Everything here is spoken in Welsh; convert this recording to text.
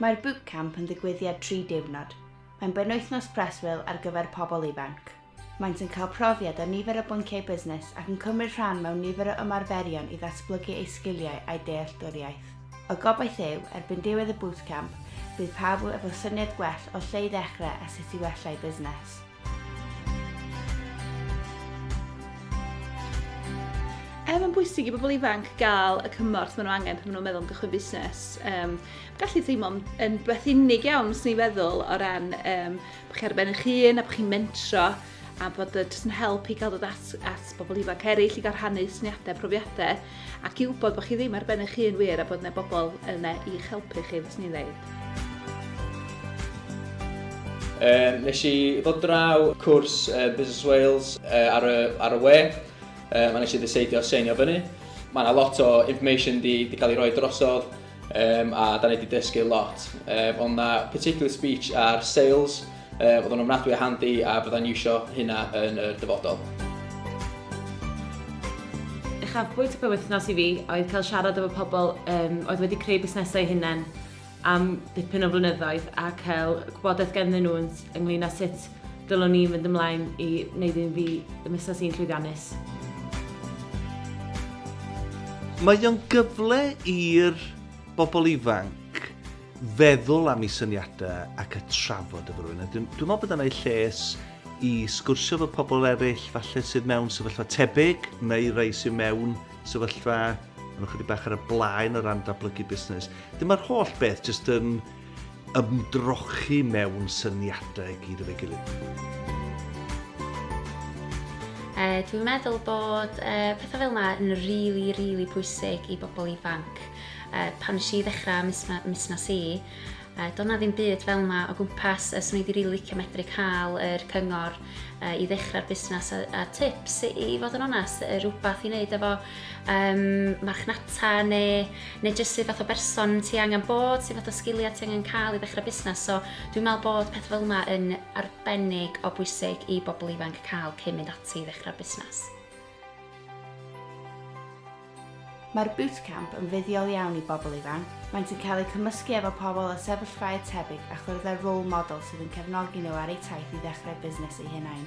Mae'r Bootcamp yn ddigwyddiad tri diwrnod. Mae'n benwythnos preswyl ar gyfer pobl ifanc. Maent yn cael profiad ar nifer o bynciau busnes ac yn cymryd rhan mewn nifer o ymarferion i ddatblygu eu sgiliau a'u dealltwriaeth. Y gobaith yw, erbyn diwedd y Bootcamp, bydd pawb efo syniad gwell o lle i ddechrau a sut i wella eu busnes. Er mae'n bwysig i bobl ifanc gael y cymorth maen nhw angen pan maen nhw'n meddwl am gychwyn busnes, um, gallu teimlo'n yn beth unig iawn os ni'n feddwl o ran um, bod chi ar ben eich hun a bod chi'n mentro a bod y jyst yn help i gael dod at, at bobl ifanc eraill i gael rhannu syniadau, profiadau. Ac i wybod bod chi ddim ar ben eich hun wir a bod yna bobl yna i'ch helpu chi, fes ni ddeud. Um, nes i ddod draw cwrs uh, Business Wales uh, ar, y, ar y we, um, a nes i ddiseidio seinio fyny. Mae yna lot o information di, di cael ei roi drosodd, Um, a da ni wedi dysgu lot. Um, ond na particular speech ar sales, um, oedd o'n ofnadwy a handi a byddai'n iwsio hynna yn y dyfodol. Uchafbwynt y penwythnos i fi oedd cael siarad efo pobl um, oedd wedi creu busnesau hunain am dipyn o flynyddoedd a cael gwybodaeth genddyn nhw ynglyn â sut Dylwn ni fynd ymlaen i wneud un fi y misus i'n llwyddiannus. Mae o'n gyfle i'r bobl ifanc feddwl am eu syniadau ac y trafod efo rhywun. Dwi'n dwi meddwl bod yna ei lles i sgwrsio efo pobl eraill falle sydd mewn sefyllfa tebyg neu rai sydd mewn sefyllfa yn ychydig bach ar y blaen o ran datblygu busnes. Dyma'r holl beth jyst yn ymdrochi mewn syniadau i gyd efo'i gilydd. E, dwi'n meddwl bod e, pethau fel yna yn rili, really, rili really pwysig i bobl ifanc. E, pan nes i ddechrau mis, mis na si, e, doedd na ddim byd fel yna o gwmpas, e, so ni wedi rili really licio medru cael yr cyngor i ddechrau'r busnes a, a tips i, i fod yn onest, y rhywbeth i wneud efo um, marchnata neu, neu jyst sydd fath o berson ti angen bod, sydd fath o sgiliau ti angen cael i ddechrau busnes. So dwi'n meddwl bod peth fel yma yn arbennig o bwysig i bobl ifanc cael cyn mynd ati i ddechrau'r busnes. Mae'r Bootcamp yn fuddiol iawn i bobl ifanc, maent yn cael eu cymysgu efo pobl o sefyllfaoedd tebyg a chwrdd â role models sydd yn cefnogi nhw ar eu taith i ddechrau busnes eu hunain.